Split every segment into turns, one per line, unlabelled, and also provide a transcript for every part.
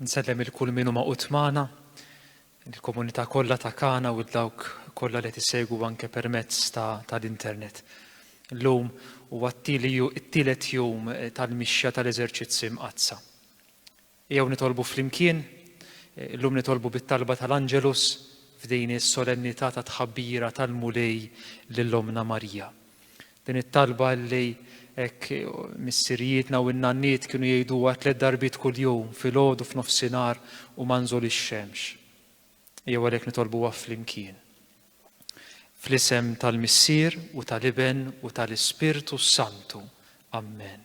Nsellem il-kull minu ma' utmana. il-komunità kollha ta' Kana u dawk kollha li qed isegwu anke permezz tal-internet. Illum huwa t-tielet jum tal-mixja tal-eżerċizzi mqaddsa. Ejjew nitolbu flimkien, illum nitolbu bit-talba tal-Angelus f'din is-solennità ta' tħabbira tal-Mulej lil Ommna Marija. Din it-talba li hekk missirijietna u n-nanniet kienu jgħiduha tliet darbiet kuljum filgħodu f'nofsinhar u ma nżol ix-xemx. Jew għalhekk nitolbuha flimkien. Fl-isem tal-Missier u tal-Iben u tal-Ispirtu Santu. Amen.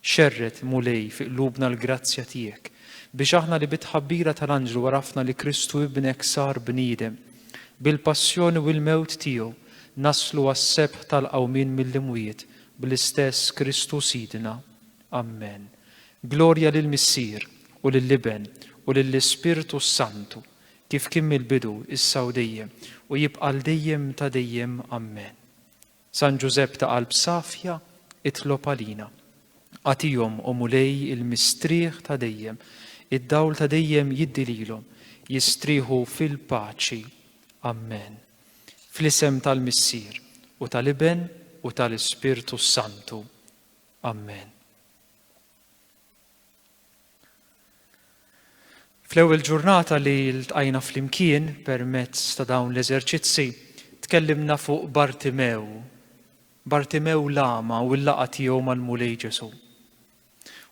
Xerred, Mulej, fi qlubna l-grazzja tiegħek, biex aħna li bit-tħabbira tal-anġlu għarafna li Kristu Ibnek sar bniedem, bil-passjoni u l-mewt tiegħu naslu għas-sebħ tal-qawmien mill-imwiet bl-istess Kristu Sidna. Ammen. Glorja lill-Missier, u lill-Iben, u lill-Ispirtu s-Santu, kif kien mill-bidu, issa u dejjem, u jibqa' għal dejjem ta' dejjem. Ammen. San Ġużepp ta' qalb safja, itlob għalina. Agħtihom, O Mulej, il-mistrieħ ta' dejjem. Id-dawl ta' dejjem jiddi lilhom. Jistrieħu fil-paċi. Ammen. Fl-isem tal-Missier, u tal-Iben, u tal-Ispirtu s-Santu. Ammen. Fl-ewwel ġurnata li ltqajna flimkien permezz ta' dawn l-eżerċizzi, tkellimna fuq Bartimew, Bartimew l-agħma u l-laqgħa tiegħu mal-Mulej Ġesù.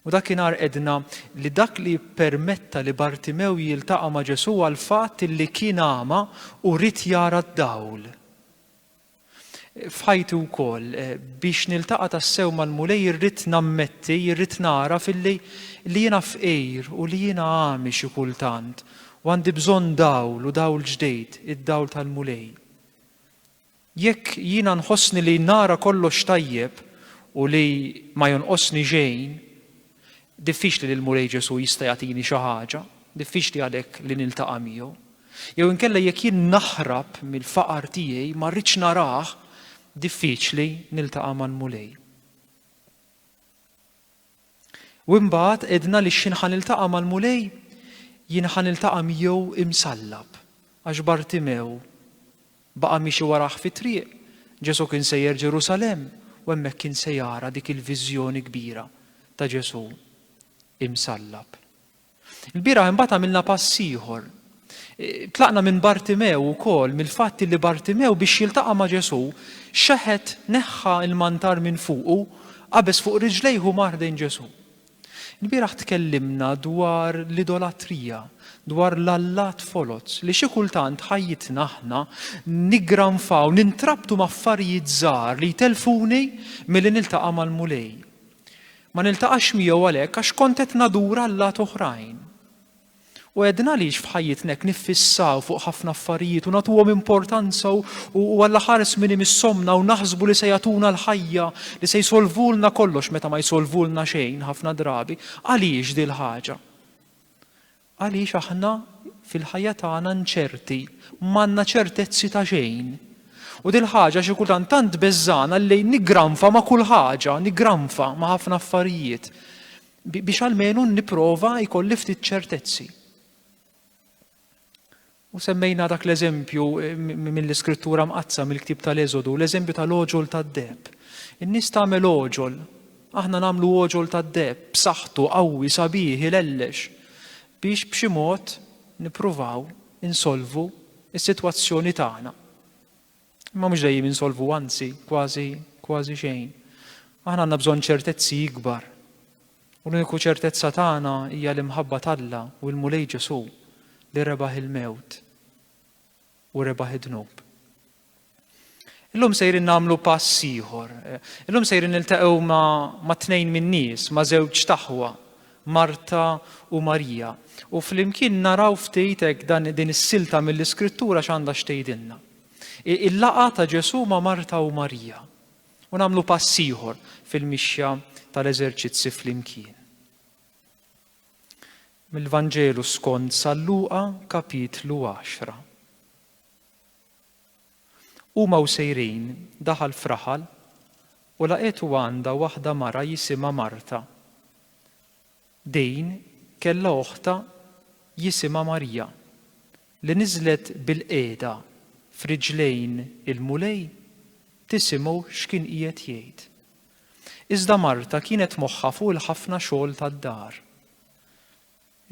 U dakinhar qedna li dak li ppermetta li Bartimew jiltaqa' ma' Ġesù għall-fatt li kien agħma u ried jara d-dawl. f'ħajti wkoll. Biex niltaqa' tassew mal-Mulej irrid nammetti, irrid nagħraf illi li jiena fqir u li jiena għami xi kultant u għandi bżonn dawl u dawl ġdid, id-dawl tal-Mulej. Jekk jiena nħossni li nara kollox tajjeb u li ma jonqosni xejn, Diffiċli li l-Mulej Ġesù jista' jagħtini xi ħaġa, diffiċli għalhekk li niltaqa' miegħu. Jew inkella jekk jien naħrab mill-faqar tiegħi ma rridx narah, diffiċli niltaqa' mal-Mulej. U imbagħad għedna li x'jien ħa niltaqa' mal-Mulej, jien ħa niltaqa' miegħu imsallab, għax Bartimew Baqa' miexi warah fit-triq. Ġesù kien sejjer Ġerusalemm u hemmhekk kien se jara dik il-viżjoni kbira ta' Ġesù imsallab. Ilbieraħ imbagħad għamilna pass ieħor. Tlaqna minn Bartimew ukoll mill-fatt illi Bartimew biex jiltaqa' ma' Ġesù xeħet neħħa l-mantar minn fuqu, qabeż fuq riġlejh u mar ħdejn Ġesù. Il-bieraħ tkellimna dwar l-idolatrija, dwar l-allat foloz, li xi kultant ħajjitna aħna niggranfaw, nintrabtu m'affarijiet żgħar li jtellfuni milli niltaqa' mal-Mulej. Ma niltaqax miegħu għalhekk għax kont qed nadur allat oħrajn. U għedna għaliex f'ħajjitna hekk niffissaw fuq ħafna affarijiet u nagħtuhom importanza u għall-aħħar żmien imissomna u naħsbu li se jagħtuna l-ħajja li se jsolvulna kollox meta ma jsolvulna xejn ħafna drabi. Għaliex dil ħaġa? Għaliex aħna fil-ħajja tagħna nċerti, m'għandna ċertezzi ta' xejn. U dil ħaġa xi kultant tant beżżana li nigranfa ma' kull ħaġa, nigranfa ma' ħafna affarijiet. Biex almenu nipprova jkolli ftit ċertezzi. U semmejna dak l-eżempju eh, mill-iskrittura mqazza mill-ktib tal-Eżodu, l-eżempju tal-oġol tad-deb. In-nies tagħmel oġol, aħna nagħmlu oġol tad-deb, b'saħħtu, qawwi, sabiħ, ilellex, biex b'xi mod nippruvaw insolvu is-sitwazzjoni tagħna. Imma mhux dejjem insolvu anzi kważi kważi xejn. Aħna għandna bżonn ċertezzi ikbar. U l-uniku ċertezza tagħna hija l-imħabba t'Alla u l-Mulej Ġesù li rebaħ il-mewt u rebaħ id-dnub. Illum sejrin nagħmlu pass ieħor. Illum sejrin niltaqgħu ma' tnejn min-nies, ma' żewġ taħwa, Marta u Marija. U flimkien naraw ftit hekk dan din is-silta mill-iskrittura x'għandha xtejdilna. Il-laqgħa ta' Ġesù ma' Marta u Marija. U nagħmlu pass ieħor fil-mixja tal-eżerċizzi flimkien. Mill-Vanġelu skont San Luqa kapitlu 10. Huma u sejrin daħal fraħal u laqetu għandha waħda mara jisimha Marta. Din kellha oħtha jisimha Marija, li niżlet bilqiegħda f'riġlejn il-Mulej tisimgħu x'kien qiegħed jgħid. Iżda Marta kienet moħħha fuq il-ħafna xogħol tad-dar.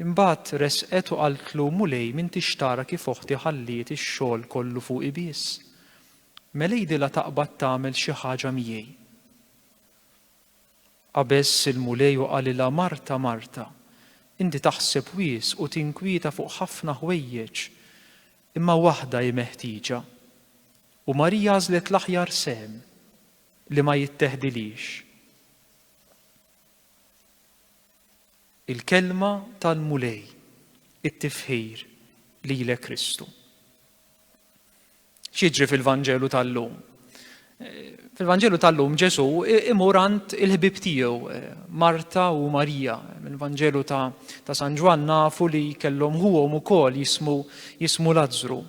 Imbagħad resqet u qaltlu, Mulej, m'intix tara kif oħti ħalliet ix-xogħol kollu fuqi biss? Mela għidilha taqbad tagħmel xi ħaġa miegħi. Qabeż il-Mulej u qalilha, Marta, Marta, inti taħseb wisq u tinkwieta fuq ħafna ħwejjeġ, imma waħda hi meħtieġa. U Marija għażlet l-aħjar sehem, li ma jitteħdilhiex. Il-Kelma tal-Mulej, it-tifħir lilek Kristu. X'jiġri fil-Vanġelu tal-lum? Fil-Vanġelu tal-lum Ġesù imur għand il-ħbib tiegħu, Marta u Marija. Mill-Vanġelu ta', ta San Ġwann nafu li kellhom ħuhom ukoll jismu, jismu Lazzru.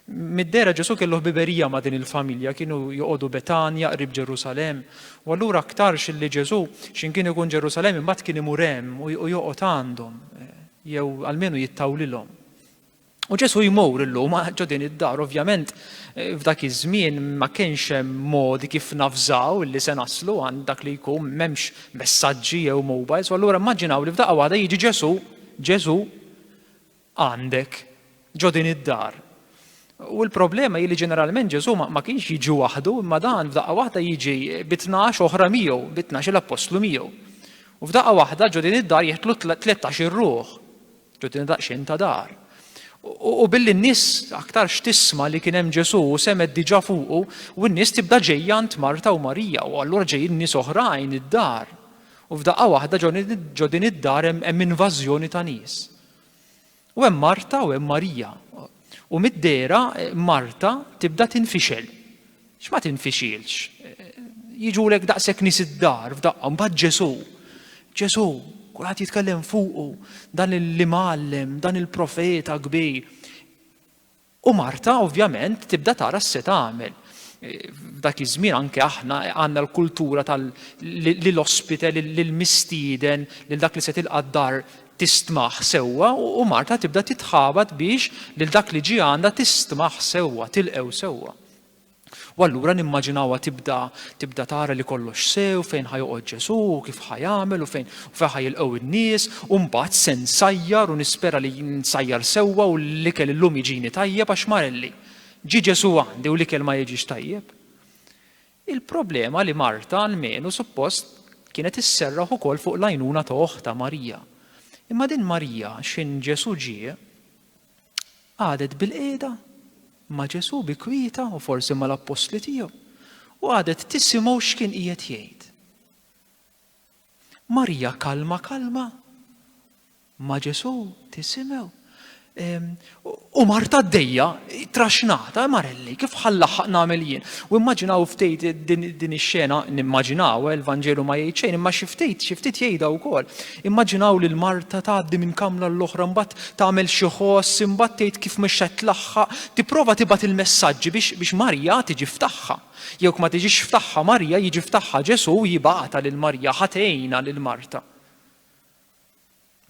Mid-dera Ġesù kellu ħbiberija ma' din il-familja, kienu joqogħdu Betanja qrib Ġerusalem, u allura aktarx li Ġesù x'in kien ikun Ġerusalem imbagħad kien imur hemm u joqgħod għandhom, jew almenu jittawlilhom. U Ġesu jmur illum ġo din id-dar, ovvjament f'dak iż-żmien ma kienx hemm modi kif nafżaw li se naslu għand dak li jkun m'hemmx messaġġi jew mobiles, u allura immaġinaw li f'daqqa waħda jiġi Ġesu, Ġesu għandek ġo din id-dar. U l-problema hi li ġeneralment Ġesu ma kienx jiġi waħdu, imma dan f'daqqa waħda jiġi bi tnax oħra miegħu, bi tnax l-appostlu miegħu. U f'daqqa waħda ġo din id-dar jeħtlu 13 ir-ruħ. Tgħoddina daqsxejn ta' dar. U billi n-nies aktarx tisma li kien hemm Ġesù u semet diġà fuqu, u n-nies tibda ġejja għand Marta u Marija, u allura ġejjin nies oħrajn id-dar. U f'daqqa waħda ġo din id-dar hemm invażjoni ta' nies. U hemm Marta u hemm Marija. U mid-dera Marta tibda tinfixel. X'ma tinfixilx. Jiġulek daqshekk nies id-dar f'daqqa mbagħad Ġesù. Ġesù, kulħadd jitkellem fuqu, dan l-imgħallem, dan il-profeta kbir. U Marta ovvjament tibda tara s-se tagħmel. F'dak iż-żmien anke aħna għandna l-kultura tal li l-ospite lil mistieden lil dak li se tilqa' d-dar tistmaħ sewwa u Marta tibda titħabat biex lil dak li ġie għandha tistmaħ sewwa, tilqew sewwa. U allura nimmaġinawha tibda tibda tara li kollox sew fejn ħajoqgħod Ġesù u kif ħajamel u fejn u fejn ħajilqgħu in-nies u mbagħad se nsajjar u nispera li nsajjar sewwa u l-ikel illum jiġini tajjeb għax marelli. Ġi Ġesù għandi u l-ikel ma jiġix tajjeb. Il-problema li Marta almenu suppost kienet isserraħ ukoll fuq l-għajnuna ta' oħta Marija. Imma din Marija xin Ġesù ġie Qagħdet bilqiegħda ma' Ġesù bi kwieta u forsi mal-appostli tiegħu u qagħdet tisimgħu x'kien qiegħed jgħid. Marija kalma kalma ma' Ġesù tisimgħu. Ehm, u Marta d-dejja, traxnata, eh, marelli, kif ħallaħħaq nagħmel jien. U immaġinaw ftejt din ix-xena, nimmaġinaw, eh, il-Vanġelu ma jgħid xejn, imma xi ftejt, xi ftit jgħidha wkoll. Immaġinaw lil Marta tgħaddi minn kamra għal oħra, imbagħad tagħmel xi ħoss, imbagħad tgħid kif mhix qed tlaħħaq, tipprova tibgħat il-messaġġi biex biex Marja tiġi f'tagħha. Jekk ma tiġix f'tagħha Marja, jiġi f'tagħha Ġesù u jibgħatha lil Marja ħa tgħinha lil Marta.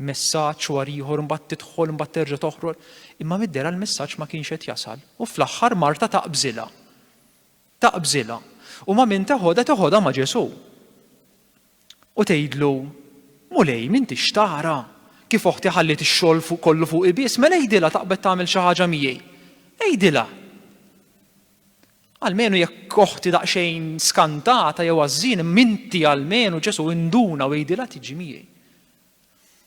Messaġġ war ieħor imbagħad tidħol imbagħad terġa' toħroġ, imma mid-dera l-messaġġ ma kienx qed jasal u fl-aħħar Marta taqbżilha. Taqbżilha, u ma' min teħodha teħodha ma' Ġesù. U tgħidlu, Mulej, m'intix tara kif oħti ħalliet ix-xogħol kollu fuqi biss, mela għidilha taqbed tagħmel xi ħaġa miegħi. Għidilha. Almenu jekk oħti daqsxejn skantata jew għażżin, m'inti almenu Ġesù induna u għidilha tiġi miegħi.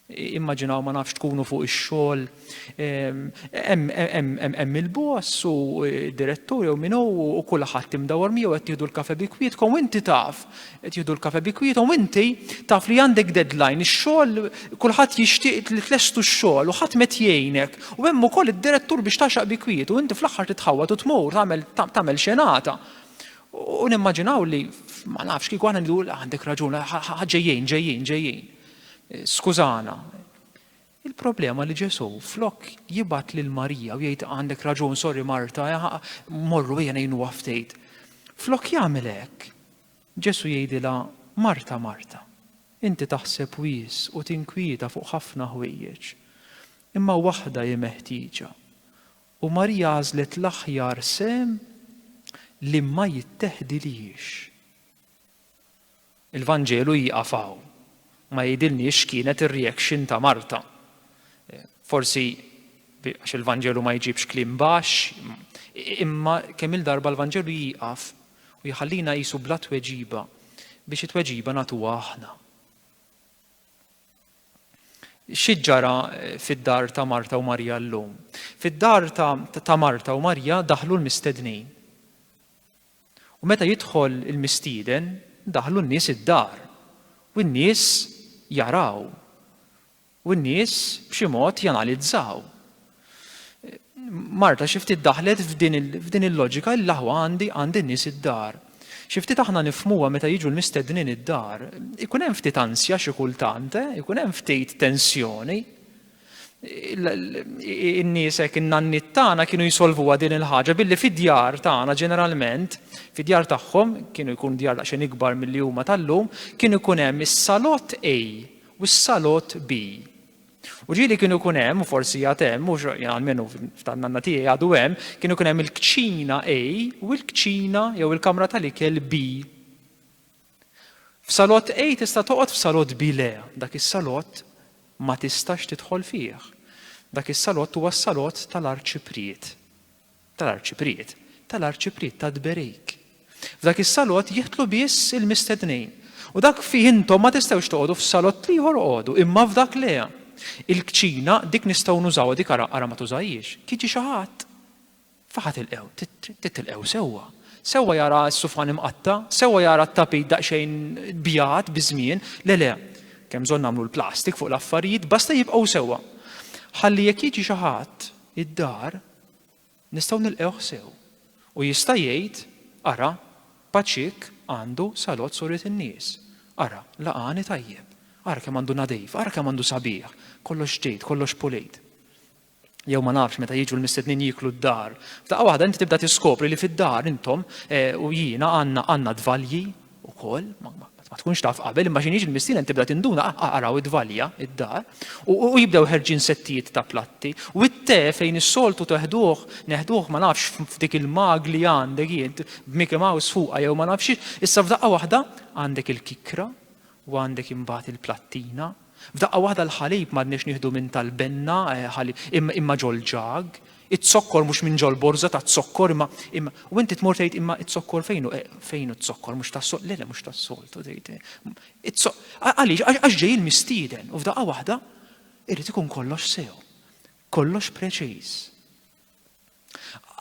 Immaġinaw ma nafx tkunu fuq ix-xogħol hemm il-boss u direttur jew min u kulħadd imdawwar miegħu qed tieħdu l-kafe bi kwietkom u inti taf qed jieħdu l-kafe bi kwiethom inti taf li għandek deadline ix-xogħol kulħadd jixtieq li tlestu x-xogħol u ħadd met jgħinek u hemm ukoll id-direttur biex taxaq bi kwietu inti fl-aħħar titħawwad u tmur tagħmel tagħmel xenata. U nimmaġinaw li, ma nafx, kieku aħna ngħidu għandek raġun, ġejjin, ġejjin, ġejjin. Skużana. Il-problema li Ġesu flok jibat lil Marija u jgħid għandek raġun, sorry Marta, morru ejja ngħinu għaftejt. Flok jagħmel hekk, Ġesu jgħidilha Marta, Marta, inti taħseb wis u tinkwieta fuq ħafna ħwejjeġ. Imma waħda hi meħtieġa. U Marija għażlet l-aħjar sehem li ma jitteħdilhiex. Il-Vanġelu jieqaf hawn. Ma jgħidilniex x'kienet ir-reaction ta' Marta. Forsi għax il-Vanġelu ma jġibx kliem baxx, imma kemm il-darba l-Vanġelu jieqaf u jħallina qisu bla tweġiba biex it-tweġiba nagħtuha aħna. Xi ġara fid-dar ta' Marta u Marija llum? Fid-dar ta', ta Marta u Marija daħlu l-mistednin. U meta jidħol il-mistieden, daħlu n-nies id-dar. U n-nies jaraw. U n-nies b'xi mod janalizzaw. Marta xi ftit daħlet f'din il-loġika li l-aħwa għandi għandi nies id-dar. Xi ftit aħna nifmuha meta jiġu l-mistednin id-dar. Ikun hemm ftit ansja xi kultant, eh? ikun hemm ftit tensjoni. In-nies hekk in-nanniet tagħna kienu jisolvuha din il-ħaġa billi fid-djar tagħna ġeneralment, fid-djar tagħhom kienu jkun djar daqsxejn ikbar milli huma tal-lum, kienu jkun hemm is-salott A u s-salott B. U ġieli kienu jkun hemm, u forsi għad hemm, u għalmenu f'tan-nanna tiegħi għadu hemm, kienu jkun hemm il-kċina A u l-kċina jew il-kamra tal-ikel B. F'salott A tista' toqgħod f'salott B le, dak is-salott ma tistax tidħol fih. Dak is-salott huwa s-salott tal-arċipriet. tal-Arċipriet, tal-Arċipriet ta' Tberejk. F'dak is-salott jidħlu biss il-mistednin. U dak fih intom ma tistgħux toqogħdu f'salott ieħor oqogħdu, imma f'dak le. Il-kċina, dik nistgħu nużawha, dik ara, ara ma tużajhiex. Jiġi xi ħadd? F'aħħa tilqgħu, titilqgħu sewwa. Sewwa jara s-sufan imqatta', sewwa jara t-tapit daqsxejn bjad biż-żmien. Le, le, kemm bżonn nagħmlu l-plastik fuq l-affarijiet, basta jibqgħu sewwa. Ħalli jekk jiġi xi ħadd id-dar, nistgħu nilqgħuh sew u jista' jgħid, Ara, Paċik għandu salott suriet in-nies. Ara, laqgħani tajjeb. Ara kemm għandu nadif, ara kemm għandu sabiħ, kollox ġdid, kollox pulit. Jew ma nafx meta jiġu l-mistednin jieklu d-dar, f'daqqa waħda inti tibda tiskopri li fid-dar intom eh, u jiena għandna għandna dvalji, ukoll, ma tkunx taf qabel, imma xinix il-missieren tibda tinduna, ah, ah, araw id-valja, id-dar, u jibdew ħerġin settijiet ta' platti, u t-te fejn is-soltu teħduh, neħduh ma nafx f'dik il-mag li għandek jint, b'Mickey Mouse fuqa jew ma nafx, issa f'daqqa waħda għandek il-kikra u għandek imbagħad il-plattina, F'daqqa waħda l-ħalib m'għadniex nieħdu minn tal-benna, ħalib, imma, imma ġol-ġag, iz-zokkor mhux minn ġol-borża taz-zokkor, imma, imma, u inti tmur tgħid imma iz-zokkor fejn hu, fejn hu z-zokkor mhux tas-sol, le, le mhux tas-soltu tgħid, iz-zo, għaliex, għax, għax ġej il-mistieden, u f'daqqa waħda irid ikun kollox sew, kollox preċiż.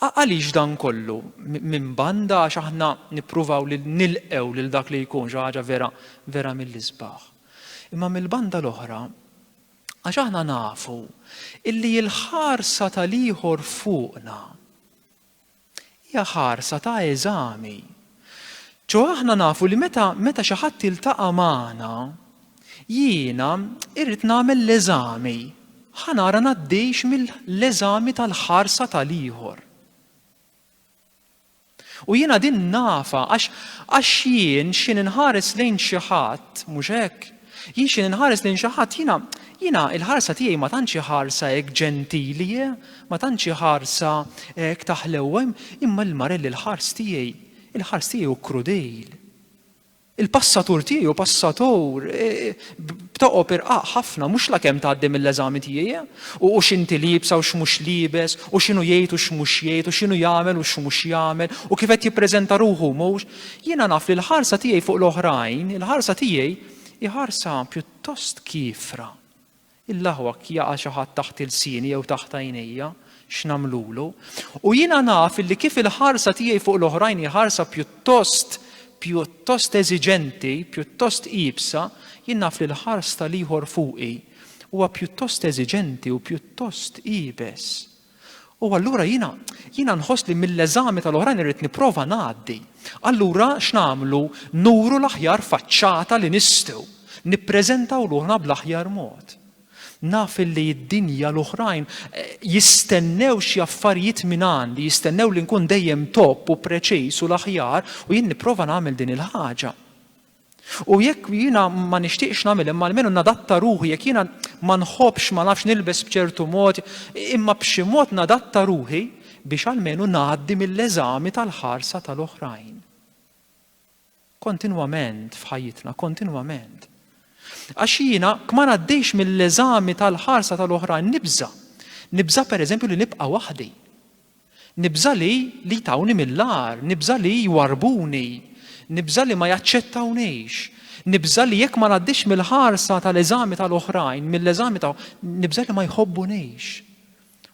Għaliex dan kollu? Minn banda għax aħna nippruvaw li nilqew lil dak li jkun xi ħaġa vera vera mill-isbaħ. Imma mill-banda l-oħra għax aħna nafu illi l-ħarsa tal-ieħor fuqna hija ħarsa ta' eżami Ċoħe aħna nafu li meta meta xi ħadd jiltaqa' magħna, jiena irrid nagħmel l-eżami, ħa nara ngħaddix mill-eżami tal-ħarsa tal-ieħor. U jiena din nafa għax għax jien xi ninħares lejn xi ħadd, mhux hekk? Jien xi ninħares lejn xi ħadd, jiena jiena l-ħarsa tiegħi ma tantx hi ħarsa hekk ġentili, eh, ma tantx hi ħarsa hekk ta' ħlewwa, imma lil Marelli l-ħars tiegħi, il-ħars tiegħi hu krudejl. Il-passatur tiegħi hu passatur e, e, b'toqob irqaq ħafna mhux lakemm tgħaddi mill-eżami tiegħi e, u x'inti liebsa u x'mhux liebes u x'inhu jgħid u x'mhux jgħid u x'inhu jagħmel u x'mhux jagħmel u kif qed jippreżenta ruħu mhux Jiena naf li l-ħarsa tiegħi fuq l-oħrajn, il-ħarsa tiegħi hi ħarsa pjuttost kiefra. Illahwak jaqa' xi ħadd taħt ilsieni jew taħt għajnejja, x'nagħmlulu? U jiena naf illi kif il-ħarsa tiegħi fuq l-oħrajn hi ħarsa pjuttost pjuttost eżiġenti, pjuttost iebsa, jien naf li l-ħars tal-ieħor fuqi huwa pjuttost eżiġenti u pjuttost iebes. U allura jiena jiena nħoss li mill-eżami tal-oħrajn irrid nipprova ngħaddi. Allura x'nagħmlu? Nuru l-aħjar faċċata li nistgħu. Nippreżentaw ruħna bl-aħjar mod. Naf li d-dinja l-oħrajn eh, jistennew xi affarijiet minn għandi, jistennew li nkun dejjem top u preċiż u l-aħjar u jien nipprova nagħmel din il-ħaġa. U jekk jiena ma nixtieqx nagħmel imma almenu nadatta ruħi, jekk jiena ma nħobbx ma nafx nilbes b'ċertu mod, imma b'xi mod nadatta ruħi biex almenu ngħaddi mill-eżami tal-ħarsa tal-oħrajn. Kontinwament f'ħajjitna, kontinwament. Għax jiena kma ngħaddix mill-eżami tal-ħarsa tal-oħrajn nibża. Nibża pereżempju li nibqa' waħdi. Nibża' li li jtawni mill-agħar, nibża' li jwarrbuni, nibża' li ma jaċċettawnix, nibża' li jekk ma ngħaddix mill-ħarsa tal-eżami tal-oħrajn, mill-eżami ta' nibża' li ma jħobbunix.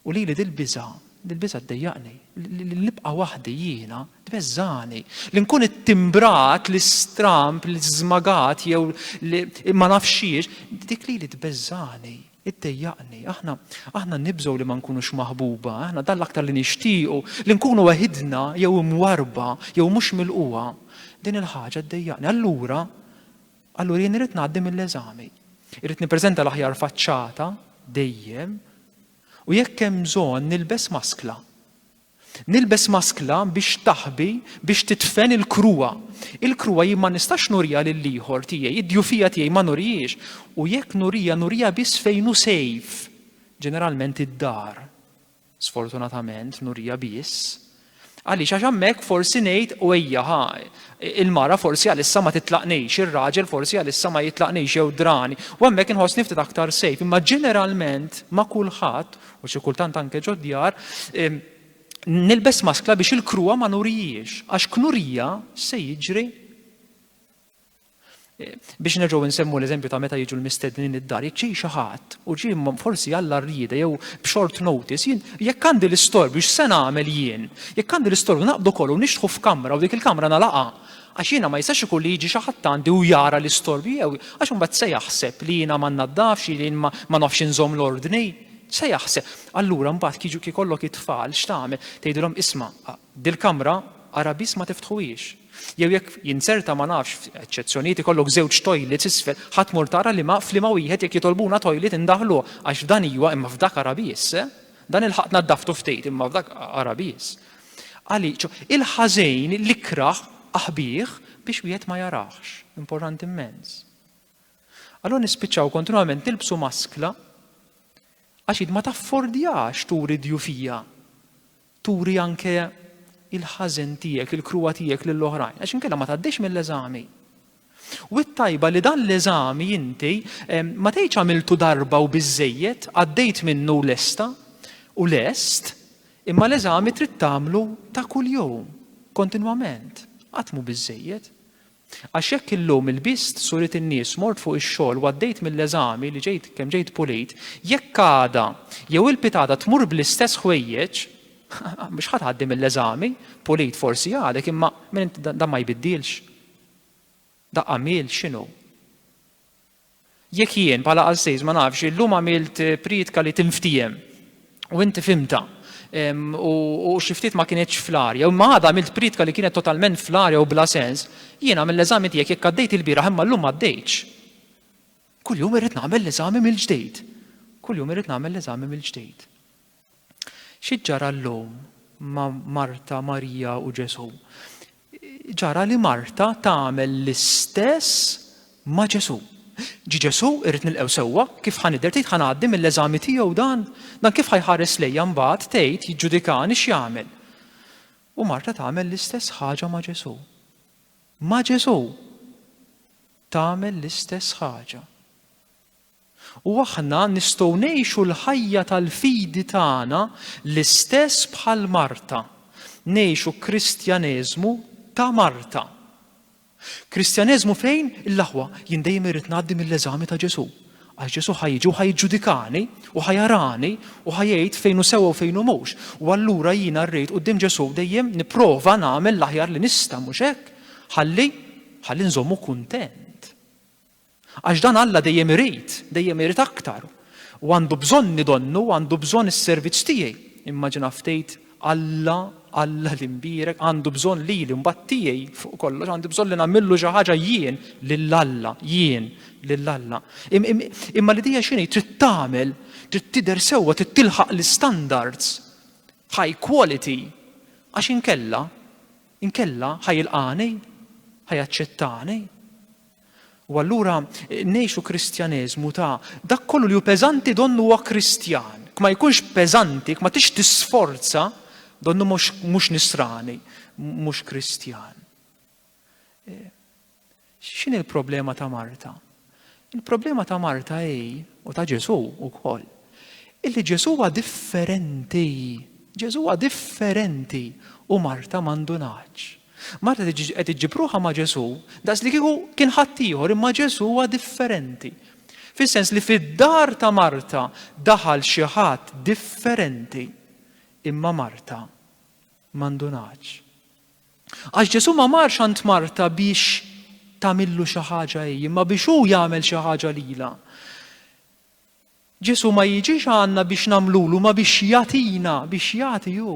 U lili dil-biża', dil-biża' ddejjaqni, li nibqa' waħdi jiena tbeżżagħni, li nkun ittimbrat, l-istramb, l-iżmagat jew ma nafx xiex, dik lili tbeżżagħni. Iddejjaqni. Aħna, aħna nibżgħu li ma nkunux maħbuba, aħna dan l-aktar li nixtiequ, li nkunu weħidna jew imwarrba jew mhux milqugħa. Din il-ħaġa ddejjaqni. Allura, allura jien irid ngħaddi mill-eżami. Irid nippreżenta l-aħjar faċċata dejjem u jekk hemm bżonn nilbes maskla. Nilbes maskla biex taħbi, biex tidfen il-kruha. Il-kruha jien ma nistax nuriha lill-ieħor tiegħi, id-djufija tiegħi ma nurihiex, u jekk nuriha, nuriha biss fejn hu safe, ġeneralment id-dar. Sfortunatament nuriha biss. Għaliex għax hemmhekk forsi ngħid u ejja ħa, il-mara forsi għalissa ma titlaqnix, ir-raġel forsi għalissa ma jitlaqnix jew drani, u hemmhekk inħossni ftit aktar safe, imma ġeneralment ma' kulħadd u xi kultant anke ġod-djar, nilbes maskla biex il-kruha ma nurijiex, għax knurija se jiġri. Biex nerġgħu nsemmu l-eżempju ta' meta jiġu l-mistednin id-dar, jekk ġej xi ħadd u ġie forsi għall rrieda jew b'short notice, jien jekk għandi l-istorbju x'se nagħmel jien? Jekk għandi l-istorbju naqbdu kollu nixtħu f'kamra u dik il-kamra nalaqha Għax jiena ma jistax ikun li jiġi xi ħadd għandi u jara l-istorbju jew għax imbagħad se jaħseb li jiena ma nnaddafx, li jien ma nafx inżomm l-ordni. Se jaħseb. Allura mbagħad kieġu kieku jkollok it-tfal x'tagħmel? Tgħidilhom isma', dil-kamra ara biss ma tiftħuhiex. Jew jekk jinzerta ma nafx, eċċezzjonijiet ikollok żewġ toilets isfel, ħa tmur tara liema f'liema wieħed jekk jitolbuna toilet indaħħluh għax f'dan iwa imma f'dak ara biss. Dan il-ħaq naddaftu ftit imma f'dak ara biss. Għali, il-ħażejn li kraħ aħbih biex wieħed ma jaraħx. Importanti immens. Allora nispiċċaw kontinwament nilbsu maskla għax id ma taffordjax turi djufija. Turi anke il-ħażen tiegħek, il-kruwa tiegħek lill-oħrajn, għax inkella ma tgħaddix mill-eżami. U t-tajba li dan l-eżami inti ma tgħidx għamiltu darba u biżżejjed, għaddejt minnu u lesta u lest, imma l-eżami trid tagħmlu ta' kuljum, kontinwament, qatt mhu biżżejjed. Għax jekk illum ilbist surit in-nies, mort fuq ix-xogħol u għaddejt mill-eżami li ġejt kemm ġejt pulit, jekk għada jew il-pitgħada tmur bl-istess ħwejjeġ, mhux ħa tgħaddi mill-eżami, pulit forsi għadek imma dan ma jbiddilx. Daqqa għamilt x'inhu? Jekk jien bħala qassis ma nafx illum għamilt prietka li tinftiehem u inti fimta u xi ftit ma kinitx fl-arja, u ma għadha għamilt prietka li kienet totalment fl-arja u bla sens, jiena mill-eżami tiegħek jekk għaddejt il-bieraħ imma llum m'għaddejtx. Kuljum irrid nagħmel l-eżami mill-ġdid. Kuljum irrid nagħmel l-eżami mill-ġdid. Xi ġara llum ma' Marta, Marija u Ġesù? Ġara li Marta tagħmel l-istess ma' Ġesù. Ġi Ġesù irrid nilqgħu sewwa, kif ħa nidher tgħid ħa ngħaddi mill-eżami tiegħu dan? Dan kif ħa jħares lejja mbagħad tgħid jiġġudikani x'jagħmel? U Marta tagħmel l-istess ħaġa ma' Ġesù. Ma' Ġesù tagħmel l-istess ħaġa. U aħna nistgħu ngħixu l-ħajja tal-fidi tagħna l-istess bħal Marta, ngħixu Kristjaneżmu ta' Marta. Kristjaneżmu fejn, il-aħwa, jien dejjem irrid ngħaddi mill-eżami ta' Ġesù. Għax Ġesù ħa jiġi u ħa jiġġudikani u ħa jarani u ħa jgħid fejn hu sewwa u fejn hu mhux. U allura jiena rrid quddiem Ġesù dejjem nipprova nagħmel l-aħjar li nista' mhux hekk? Ħalli ħalli nżommu kuntent. Għax dan Alla dejjem irid, dejjem irid aktar. U għandu bżonni donnu, għandu bżonn is-servizz tiegħi. Immaġina ftejt Alla, Alla li mbierek, għandu bżonn lili mbagħad tiegħi fuq kollox, għandu bżonn li nagħmillu xi ħaġa jien lil Alla, jien lil Alla. Imma l-idea x'inhi trid tagħmel, trid tidher sewwa, trid tilħaq l-istandards high quality għax inkella inkella ħajilqani, ħajaċċettani. U allura ngħixu Kristjaneżmu ta' dak kollu li hu peżanti donnu huwa Kristjan. Kma jkunx peżanti, kma tix tisforza donnu mhux nisrani, mhux Kristjan. E, x'in il-problema ta' Marta? Il-problema ta' Marta hi u ta' Ġesu wkoll. Illi Ġesu huwa differenti. Ġesu huwa differenti u Marta m'għandunax. Marta qed iġġib ruħha ma' Ġesù daqslikieku kien ħaddieħor imma Ġesù huwa differenti. Fis-sens li fid-dar ta' Marta daħal xi ħadd differenti imma Marta m'għandunatx. Għax Ġesù ma marx għand Marta biex tagħmillu xi ħaġa hi, imma biex hu jagħmel xi ħaġa lilha. Ġesù ma jiġix għandna biex nagħmlulu ma biex jagħtina, biex jagħti hu.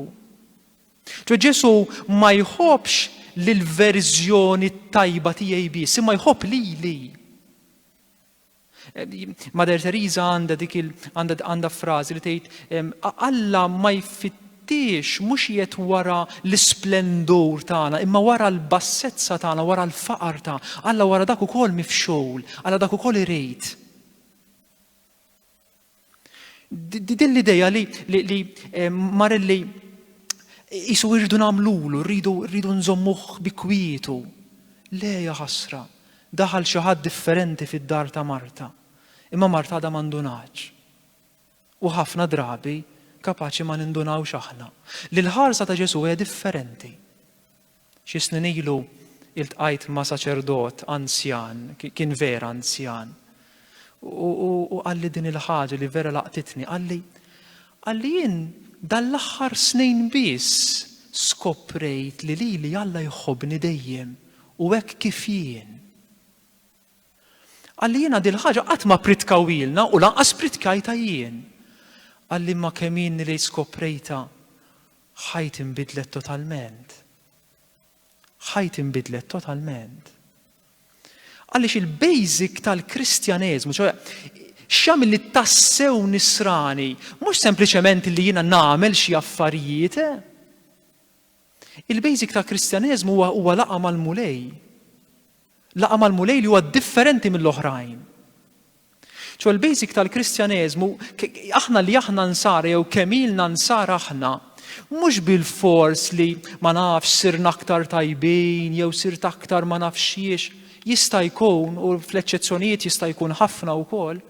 Ġo Ġesù ma jħobbx l-verżjoni tajba tiegħi biss, imma jħobb lili. Mader Teresa għandha dik il għandha frażi li tgħid Alla ma jfittix mhux jiet wara l-isplendur tagħna, imma wara l-bassezza tagħna, wara l-faqar ta' Alla wara dak ukoll mifxul, Alla dak ukoll irid. Din l-ideja li, li, li eh, Marelli jisu irridu namlulu, rridu, rridu nżommuħ bi kwietu. Le ħasra, daħal xi ħadd differenti fid-dar ta' Marta. Imma Marta da mandunaċ. u ħafna drabi kapaċi ma nindunawx aħna li l-ħarsa ta' Ġesù hija differenti. Xi snin ilu iltqajt ma' saċerdot anzjan, kien vera anzjan, u qalli din il-ħaġa li vera laqtitni, qalli qalli jien dal-aħħar snin biss skoprejt li lili Alla jħobbni dejjem u hekk kif jien. Qalli, Jiena din il-ħaġa qatt ma ppritkawhielna u lanqas pprittkajtha jien. Qalli, Imma kemm ilni li skoprejtha, ħajti nbidlet totalment. Ħajti nbidlet totalment. Għaliex il-basic tal-Kristjaneżmu, ċoħe, x'jagħmilni tassew nisrani, mhux sempliċement li jiena nagħmel xi affarijiet, eh? Il-basic tal-Kristjaneżmu huwa huwa laqgħa mal-Mulej. Laqgħa mal-Mulej li huwa differenti mill-oħrajn. Ċo l-basic tal-Kristjaneżmu, aħna li aħna nsara jew kemm ilna nsara aħna, mhux bil-fors li ma nafx sirna aktar tajbin jew sirt aktar ma nafxiex, jista' jkun u fl-eċċezzjonijiet jista' jkun ħafna wkoll.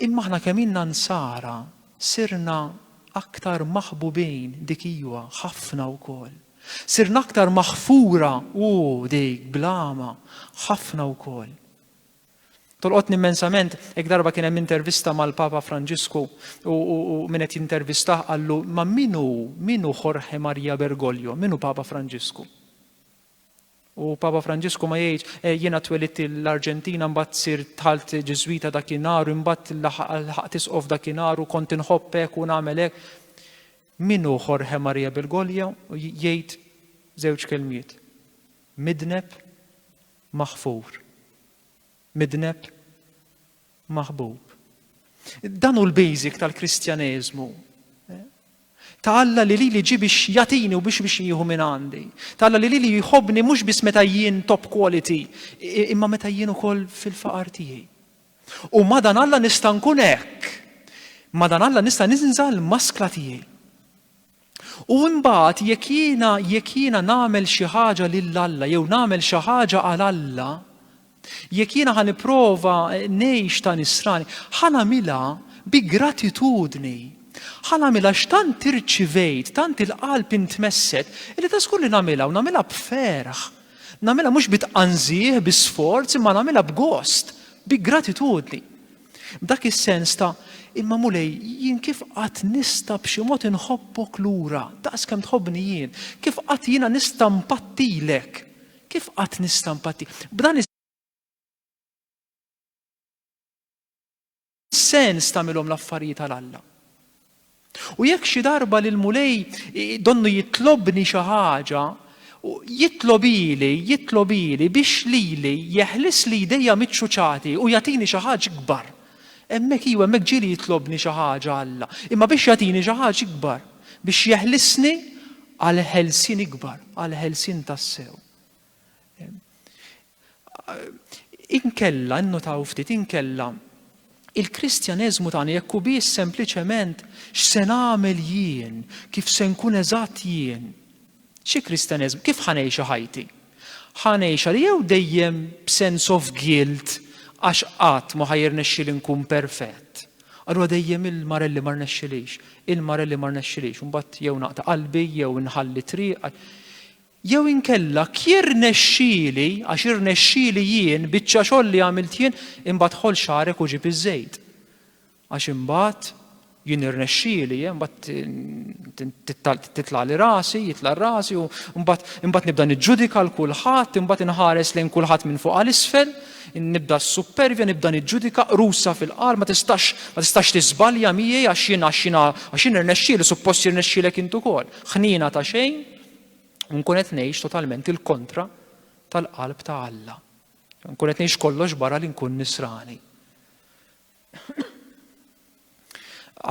Imma aħna kemm ilna Nsara sirna aktar maħbubin dik iwa ħafna wkoll. Sirna aktar maħfura ooh dik bl-għama ħafna wkoll. Tolqotni immensament hekk darba kien hemm intervista mal-Papa Franġisku u min qed jintervistah qallu ma min hu min hu Jorge Maria Bergoglio, min hu Papa Franġisku? U Papa Franġisku ma jgħidx, eh, jiena twelidt l-Arġentina mbagħad sirt dħalt Ġiżwita dakinhar u imbagħad laħqt isqof dakinhar u kont inħobb hekk u nagħmel hekk. Min hu Jorge Maria Bergoglio jgħid żewġ kelmiet. Midneb maħfur. Midneb maħbub. Dan hu l-basic tal-Kristjaneżmu. Ta' Alla li lili ġi biex jatini u biex biex jieħu minn għandi. Ta' Alla li lili jħobni mhux biss meta jien top quality, imma meta jien ukoll fil-faqar tiegħi. U madan Alla nista' nkun hekk. Madan Alla nista' ninżal maskla tiegħi. U imbagħad jekk jiena jekk jiena nagħmel xi ħaġa lil Alla jew nagħmel xi ħaġa għal Alla, jekk jiena ħa nipprova ngħix ta' nisrani, ħa nagħmilha bi gratitudni. Ħa nagħmilha x'tant irċivejt, tant il-qalb intmesset, illi ta' żgur li nagħmilha u nagħmilha b'ferħ. Nagħmilha mhux bi tqanżih, bi sforz, imma nagħmilha b'gost, bi gratitudni. B'dak is-sens ta' Imma Mulej, jien kif qatt nista' b'xi mod inħobbok lura, daqs kemm tħobbni jien? Kif qatt jiena nista' mpattilek? Kif qatt nista' mpatti? B'dan is-sens tagħmilhom l-affarijiet għal Alla. U jekk xi darba l-Mulej donnu jitlobni xi ħaġa, jitlob ili, jitlob ili biex lili jeħlisli jdejja miċ-ċuċati u jagħtini xi ħaġa ikbar. Hemmhekk, iva, hemmhekk ġieli jitlobni xi ħaġa Alla, imma biex jagħtini xi ħaġa ikbar, biex jeħlisni għal ħelsien ikbar, għal ħelsien tassew. Inkella, innotaw ftit, inkella il-Kristjaneżmu tagħna jekk hu biss sempliċement x'se nagħmel jien, kif se nkun eżatt jien. Xi Kristjaneżmu, kif ħa ngħixha ħajti? Ħa ngħixha li jew dejjem b'sense of guilt għax qatt ma ħa jirnexxieli nkun perfett. Allura dejjem il-marelli ma rnexxilix, il-marelli ma rnexxilix, imbagħad jew naqta' qalbi, jew inħalli triq. Jew inkella, Jirnexxieli, għax irnexxieli jien, biċċa xogħol li għamilt jien, imbagħad ħoll xagħrek u ġib iż-żejt. Għax imbagħad jien irnexxieli, eh, imbagħad titlagħli rasi, jitla' rasi u imbagħad nibda niġġudika l kulħadd, imbagħad inħares lejn kulħadd minn fuq għal isfel, nibda s-suppervja, nibda niġġudika qrusa fil-qalb, ma tistax ma tistax tiżbalja miegħi għax jien għax jien irnexxieli, suppost jirnexxielek int ukoll. Ħniena ta' xejn. u nkun qed ngħix totalment il-kontra tal-qalb ta' Alla. Nkun qed ngħix kollox barra li nkun nisrani.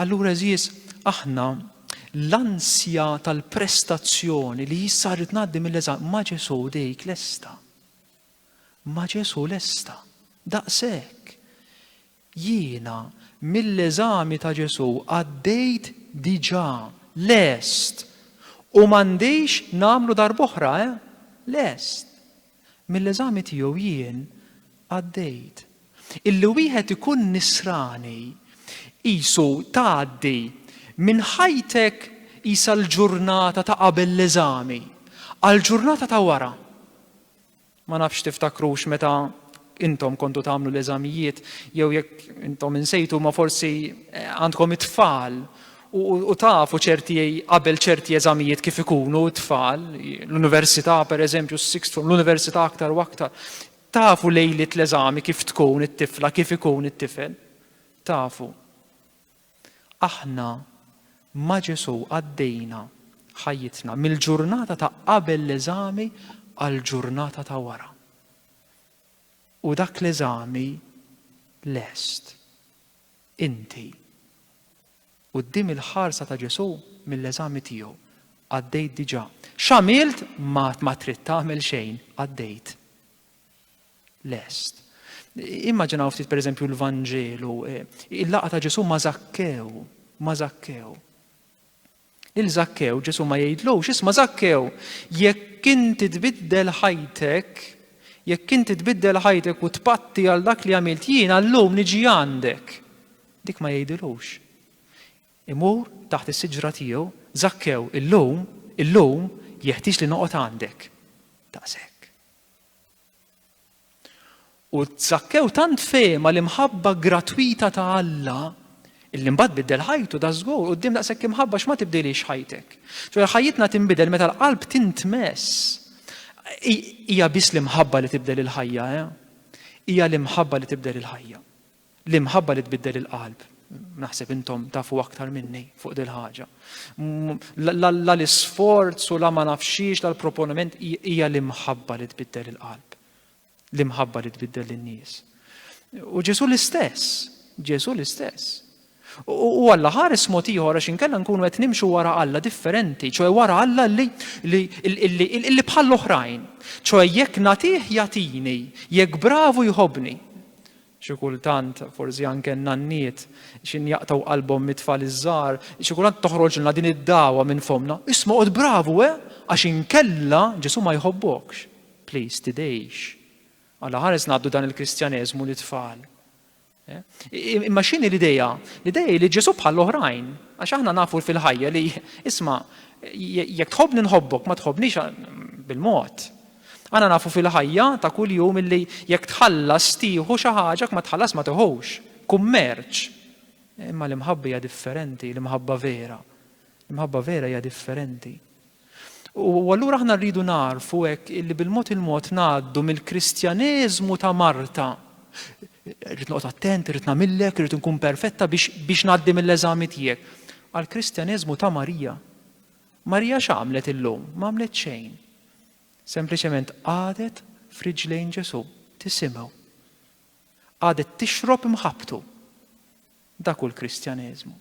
Allura eżis, aħna l-ansja tal-prestazzjoni li jissarit ngħaddi mill-eżam ma' Ġesu dejk lesta. Ma' Ġesu lesta. Daqshekk. Jiena, mill-eżami ta' Ġesù, għaddejt diġà, lest. U m'għandix nagħmlu darb'oħra, eh? Lest. Mill-eżami tiegħu jien għaddejt. Illi wieħed ikun Nisrani, qisu tgħaddi minn ħajtek qisha l-ġurnata ta' qabel l-eżami, għall-ġurnata ta' wara. Ma nafx tiftakrux meta intom kontu tagħmlu l-eżamijiet jew jekk intom insejtu ma forsi eh, għandkom it-tfal u tafu ċerti qabel ċerti eżamijiet kif ikunu t-tfal, l-università per eżempju, s-sixth form, l-università aktar u aktar, tafu lejlit l-eżami kif tkun it-tifla, kif ikun it-tifel, tafu. Aħna ma' Ġesù għaddejna ħajjitna mill-ġurnata ta' qabel l-eżami għall-ġurnata ta' wara. U dak l-eżami lest. Inti. Quddiem il-ħarsa ta' Ġesù mill-eżami tiegħu għaddejt diġà. X'għamilt ma trid tagħmel xejn, għaddejt. lest. Immaġinaw ftit pereżempju l-Vanġelu, eh, il-laqa ta' Ġesu ma' Zakkew, ma' Zakkew. Lil Zakkew Ġesu ma jgħidlux, isma' Zakkew, jekk inti tbiddel ħajtek, jekk inti tbiddel ħajtek u tpatti għal dak li għamilt jien allum niġi għandek. Dik ma jgħidilux. Imur taħt is-siġra tiegħu, Zakkew illum, illum jeħtieġ li noqgħod għandek. Taqsek. U Zakkew tant fehma l-imħabba gratwita ta' Alla illi mbagħad biddel ħajtu da żgur quddiem daqshekk imħabba x'ma tibdilix ħajtek. Ġifier ħajjitna tinbidel meta l-qalb tintmess. Hija biss l-imħabba li tibdel il-ħajja, eh? Hija l-imħabba li tibdel il-ħajja. L-imħabba li tbiddel il-qalb. Naħseb intom tafu aktar minni fuq dil ħaġa. La l-isforz u la ma nafxiex la l-proponiment hija l-imħabba li tbiddel il-qalb. L-imħabba li tbiddel lin-nies. U Ġesu l-istess, Ġesu l-istess. U Alla ħares mod ieħor għax inkella nkunu qed nimxu wara Alla differenti, ċoe wara Alla li li bħall-oħrajn. ċoe jekk nagħtih jagħtini, jekk bravu jħobni. Xi kultant, forsi anke n-nanniet, x'in jaqtgħu qalbhom mit-tfal iż-żgħar, xi kultant toħroġilna din id-dagħwa minn fommna, Isma' qgħod bravu, eh? Għax inkella Ġesù ma jħobbokx. Please, tidgħix. Alla ħares ngħaddu dan il-Kristjaneżmu lit-tfal. Eh? Imma x'inhi l-idea? L-idea hi li Ġesù bħall-oħrajn, għax aħna nafu fil-ħajja li isma' jekk tħobbni nħobbok, ma tħobbnix bil-mod. Aħna nafu fil-ħajja ta' kuljum illi jekk tħallas tieħu xi ħaġa, jekk ma tħallas ma tiħux. Kummerċ. Imma l-imħabba hija differenti, l-imħabba vera. L-imħabba vera hija differenti. U allura aħna rridu narfu hekk illi bil-mod il-mod ngħaddu mill-Kristjaneżmu ta' Marta. Rrid noqgħod attent, rrid nagħmillek, rrid nkun perfetta biex biex ngħaddi mill-eżami tiegħek. Għall-Kristjaneżmu ta' Marija. Marija x'għamlet illum? M'għamlet xejn. Sempliċement qagħdet f'riġlejn Ġesù tisimgħu. Qagħdet tixrob mħabbtu. Dak hu l-Kristjaneżmu.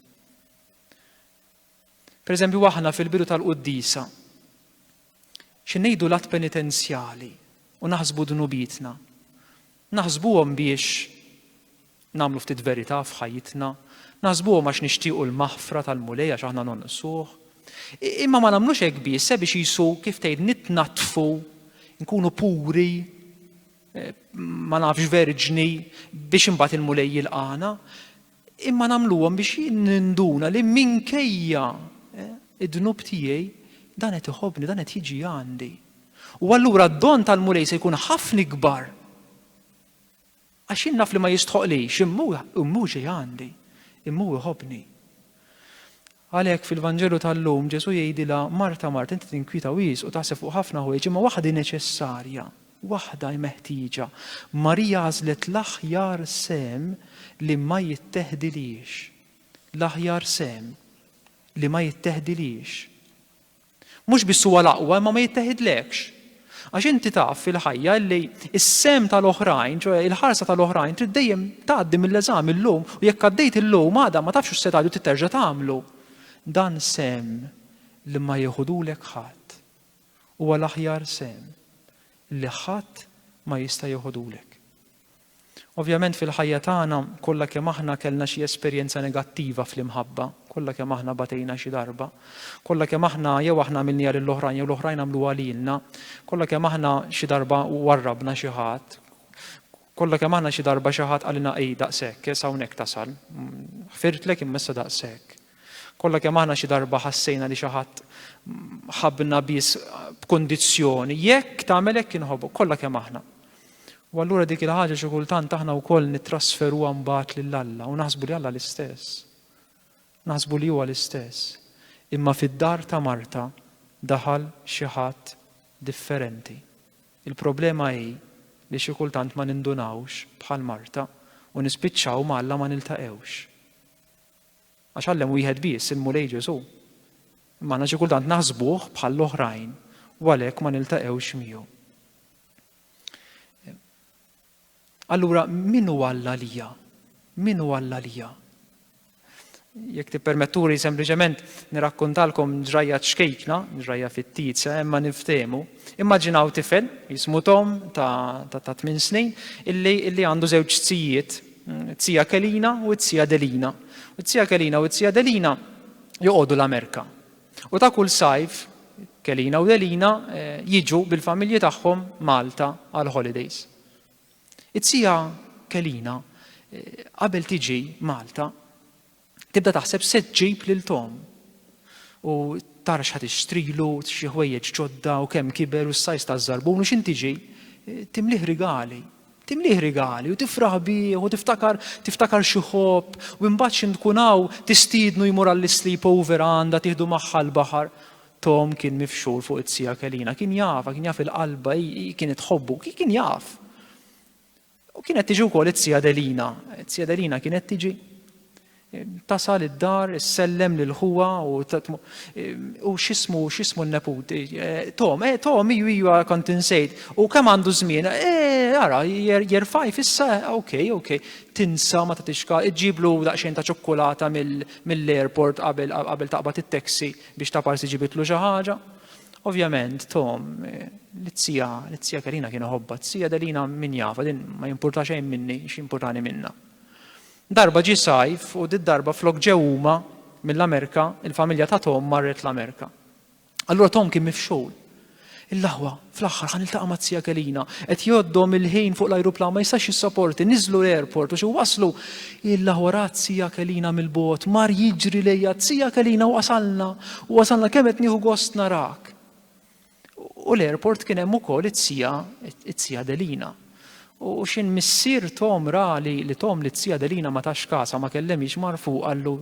Per eżempju, aħna fil-bidu tal-quddisa, xinejdu l-att penitenzjali u naħsbu dnubitna. Naħsbuhom biex Nagħmlu ftit verità f'ħajjitna, naħsbuhom għax nixtiequ l-maħfra tal-Mulej għax aħna nonqsuh. Imma ma nagħmlux hekk biss, se biex jisu kif tgħid nitnaddfu, nkunu puri, eh, ma nafx verġni biex imbagħad il-Mulej jilqana. Imma nagħmluhom biex ninduna li minkejja eh, id-dnub tiegħi dan qed iħobni, dan qed jiġi għandi. U allura d-don tal-Mulej se jkun ħafna ikbar Għax jien naf li ma jistħoqlix, immu immu xi għandi, immu iħobni. Għalhekk fil-Vanġelu tal-lum Ġesu jgħidilha Marta Marta inti tinkwita wis u taħseb fuq ħafna ħwejġ imma waħda neċessarja, waħda meħtieġa. Marija għażlet l-aħjar sem li ma jitteħdilhiex. L-aħjar sem li ma jitteħdilhiex. Mhux biss huwa l-aqwa imma ma jitteħidlekx. Għax inti taf fil-ħajja li s-sehem tal-oħrajn, ċoe il-ħarsa tal-oħrajn trid dejjem tgħaddi mill-eżami llum u jekk għaddejt illum għada ma tafx u se tgħaddi u trid terġa' tagħmlu. Dan sehem li ma jiħudulek ħadd. Huwa l-aħjar sehem li ħadd ma jista' jiħudulek. Ovvjament fil-ħajja tagħna kollha kemm aħna kellna xi esperjenza negattiva fl-imħabba, kollha kemm aħna batejna xi darba, kollha kemm aħna jew aħna għamilniha lil oħrajn jew l-oħrajn għamluha lilna, kollha kemm aħna xi darba warrabna xi ħadd, kollha kemm aħna xi darba xi ħadd qalilna ej daqshekk, issa hawnhekk tasal, ħfirtlek imma issa daqshekk. Kollha kemm aħna xi darba ħassejna li xi ħadd ħabbna biss b'kundizzjoni, jekk tagħmel hekk inħobbok, kollha kemm aħna. U allura dik il-ħaġa xi kultant aħna wkoll nittrasferuha mbagħad lil Alla u naħsbu li Alla l-istess. Naħsbu li huwa l-istess. Imma fid-dar ta' Marta daħal xi ħadd differenti. Il-problema hi li xi kultant ma nindunawx bħal Marta u nispiċċaw ma Alla ma niltaqewx. Għax għallem wieħed biss, il-Mulej Ġesù. Imma aħna xi kultant naħsbuh bħall-oħrajn u għalhekk ma niltaqgħux miegħu. Allura, min hu Alla lija? Min hu Alla lija? Jekk tippermetturi sempliċement nirakkontalkom ġrajja ċkejkna, ġrajja fit-tizza, imma niftemu. Immaġinaw tifel, jismu Tom ta' ta' tmin snin, illi għandu żewġ tsijiet t-Zija Kelina u t-Zija Delina. U t-Zija Kelina u t-Zija Delina joqogħdu l-Amerika. U ta' kull sajf, Kelina u Delina eh, jiġu bil-familji tagħhom Malta għal holidays. It-Zija Kelina eh, qabel tiġi Malta Tibda taħseb se ġġib lil Tom. U tara x'ħad ixtrilu, xi ħwejjeġ ġodda u kemm kiber u s-sajs ta' żarbun u x'in tiġi. Timlih rigali. Timlih rigali u tifraħ bih u tiftakar tiftakar xi ħobb u imbagħad x'in tkun hawn tistiednu jmur għall-sleep over għandha tieħdu magħha l-baħar. Tom kien mifxur fuq it-sija kelina, kien jaf, kien jaf il-qalba, kienet ħobbu, kien jaf. U kienet tiġi wkoll it-Sija Delina. It-Sija Delina kienet tiġi tasal id-dar, sellem lil ħuwa u u xismu xismu n-neput. Eh, Tom, eh, Tom, iju iju kont insejt. U kemm għandu żmien? Eh, ara, jerfaj fissa, eh, ok, ok. Tinsa ma tatixka, iġiblu daqsxejn ta' ċokkolata mill-airport qabel qabel taqbad it-taxi biex ta' parsi ġibitlu xi ħaġa. Ovvjament, Tom, l-izzija, l-izzija Karina kien ħobba, t-zija Delina min jafa, din ma jimpurta xejn minni, x'jimpurtani minna. Darba ġi sajf u dit darba flok ġew huma mill-Amerika, il-familja ta' Tom marret l-Amerika. Allura Tom kien mifxul. Il-laħwa, fl-aħħar ħan iltaqa' ma' zija Kelina, qed jgħoddhom il-ħin fuq l-ajruplan ma jistax jissaporti, niżlu l-airport u xi waslu Illa wara t-Zija Kelina mill-bogħod mar jiġri lejha, Zija Kelina wasalna, wasalna, kemm qed nieħu gost narak. U l-airport kien hemm ukoll it-Zija, it-Zija Adelina. U x'in missier Tom ra li li Tom li t-Zija Adelina ma tax kasha ma kellemhiex mar fuq qallu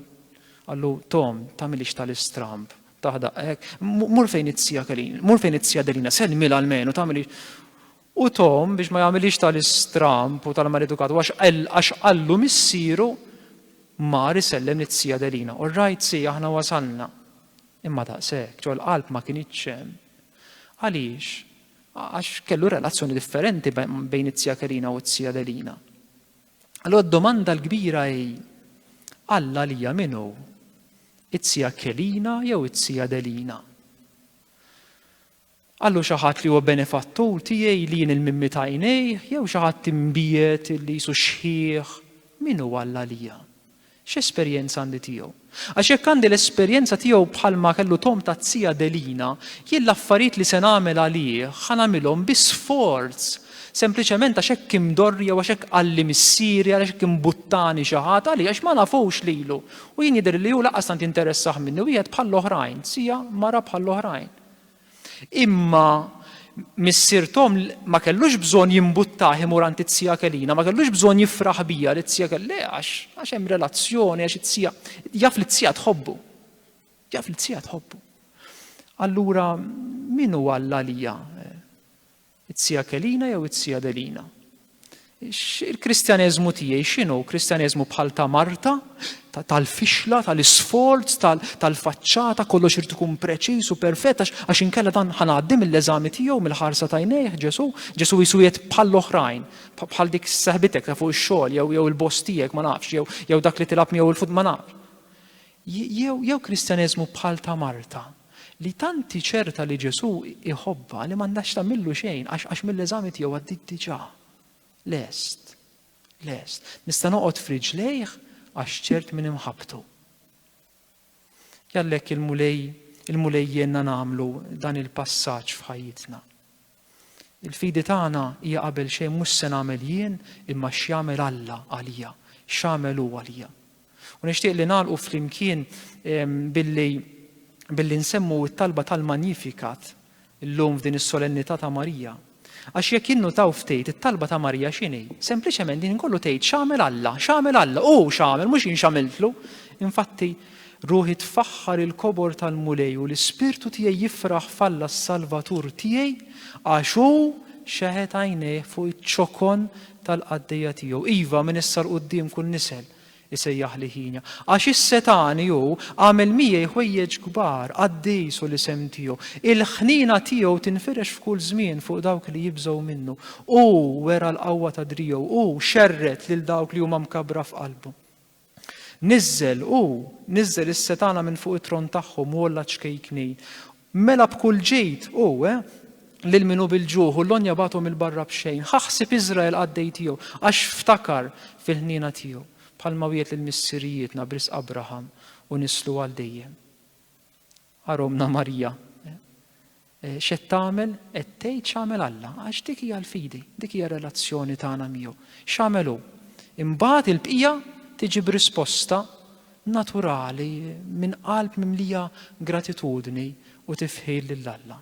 qallu Tom tagħmilhiex tal-istramb taħdaq hekk, mur fejn it-Zija Kelina, mur fejn it-Zija Adelina, sellmilha almenu tagħmilhiex U Tom, biex ma jagħmilhiex tal-istramb u tal-maledukat, u għax qallu missieru, mar isellem lit-Zija Adelina. All right, Zija, aħna wasalna. Imma daqshekk, ġol-qalb ma kinitx hemm. Għaliex? Għax kellu relazzjoni differenti bejn it-Zija Kelina u t-Zija Adelina. Allora d-domanda l-kbira hi, Alla lija minnu? It-Zija Kelina jew it-Zija Adelina? Qal hu xi ħadd li huwa benefattur tiegħi, li jien il-mimmi ta' għajnejh, jew xi ħadd imbiegħed li qisu xħiħ? Min hu Alla għalija? X'esperjenza għandi tiegħu? Għax jekk għandi l-esperjenza tiegħu bħalma kellu Tom taz-zija Adelina, jien l-affarijiet li se nagħmel għalih ħa nagħmilhom bi sforz, sempliċement għax hekk imdorri jew għax hekk qalli missieri, għaliex hekk imbuttani xi ħadd, għaliex għax ma nafux lilu, u jien jidhirli li hu lanqas tant jinteressah minni, wieħed bħall-oħrajn, zija, mara bħall-oħrajn. Imma missier Tom ma kellux bżonn jimbuttah imur għand it-tija Kelina, ma kellux bżonn jifraħ bija li t-tija Kelli għax għax hemm relazzjoni għax it-tija jaf li t-tija tħobbu. Jaf li t-tija tħobbu. Allura min hu Alla lija? It-Tzija Kelina jew it-Tzija Delina? Il-Kristjaneżmu tiegħi x'inhu? Kristjaneżmu bħal ta' Marta, tal-fixla, tal-isforz, tal-faċċata, kollox irid ikun preċiż u perfett għax inkella dan ħanaddi mill-eżami tiegħu mill-ħarsa tajnejh Ġesu. Ġesu jisu jgħid bħall-oħrajn, bħal dik seħbitek ta' fuq ix-xogħol jew jew il-boss tiegħek ma nafx jew jew dak li tilab miegħu l-fut ma nafx. Jew jew Kristjaneżmu bħal ta' Marta, li tant hi ċerta li Ġesù jħobbha li m'għandhax tagħmillu xejn għax għax mill-eżami tiegħu għaddiet diġà. Lest. Lest. Nista' noqgħod f'riġlejh għax ċert minn imħabbtu. Jallek il-Mulej il-Mulej jenna nagħmlu dan il-passaġġ f'ħajjitna. Il-fidi tagħna hija qabel xejn mhux x'se nagħmel jien imma x'jagħmel Alla għalija, x'għamel hu għalija. U nixtieq li nagħlqu flimkien billi billi nsemmu t-talba tal-Magnificat illum f'din is-solennità ta' Marija. Għax jekk jinnutaw ftejt it-talba ta' Marija x'inhi? Sempliċement din kollu tgħid x'għamel Alla, x'għamel Alla, hu x'għamel mhux jien x'għamiltlu. Infatti Ruħi tfaħħar il-kobor tal-Mulej u l-ispirtu tiegħi jifraħ f'Alla s-Salvatur tiegħi, għax hu xeħet għajnejh fuq iċ-ċokon tal-qaddejja tiegħu, iva, minn issa 'l quddiem kull nisel isejjaħli ħinja. Għax issa tani hu għamel miegħi ħwejjeġ kbar, qaddis hu l-isem tiegħu. Il-ħniena tiegħu tinfirex f'kull żmien fuq dawk li jibżgħu minnu. Hu wera l-qawwa ta' driegħu, hu xerred lil dawk li huma mkabbra f'qalbu. Niżżel, hu, niżżel is-setgħana minn fuq it-tron tagħhom u għolla ċ-ċkejkni. Mela b'kull ġid, hu, eh, lil min hu bil-ġuħ u l-għonja bagħathom 'il barra b'xejn. Ħa ħsieb Iżrael qaddej tiegħu, għax ftakar fil-ħniena tiegħu, bħalma wiegħed lil missirijietna b'risq Abraham u nislu għal dejjem. Ara ommna Marija. X'qed tagħmel? Qed tgħid x'għamel Alla, għax dik hija l-fidi, dik hija r-relazzjoni tagħna miegħu. X'għamel hu? Imbagħad il-bqija tiġi b'risposta naturali minn qalb mimlija gratitudni u tifħir lil Alla.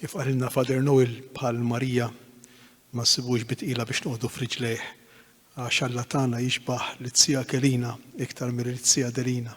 Kif qalilna Father Noel bħal Marija ma nsibux bi tqila biex noqogħdu f'riġlejh għax Alla tagħna jixbah lit-Tzija Kelina iktar milli lit-Tzija Delina.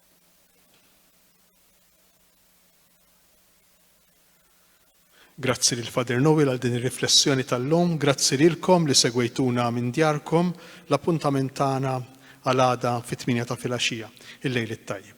Grazzi lil Father Noel għal din ir-riflessjoni tal-lum, grazzi lilkom li segwejtuna minn djarkom, l-appuntament tagħna għal għada fit-tmienja ta' filgħaxija. Il-lejl it-tajjeb.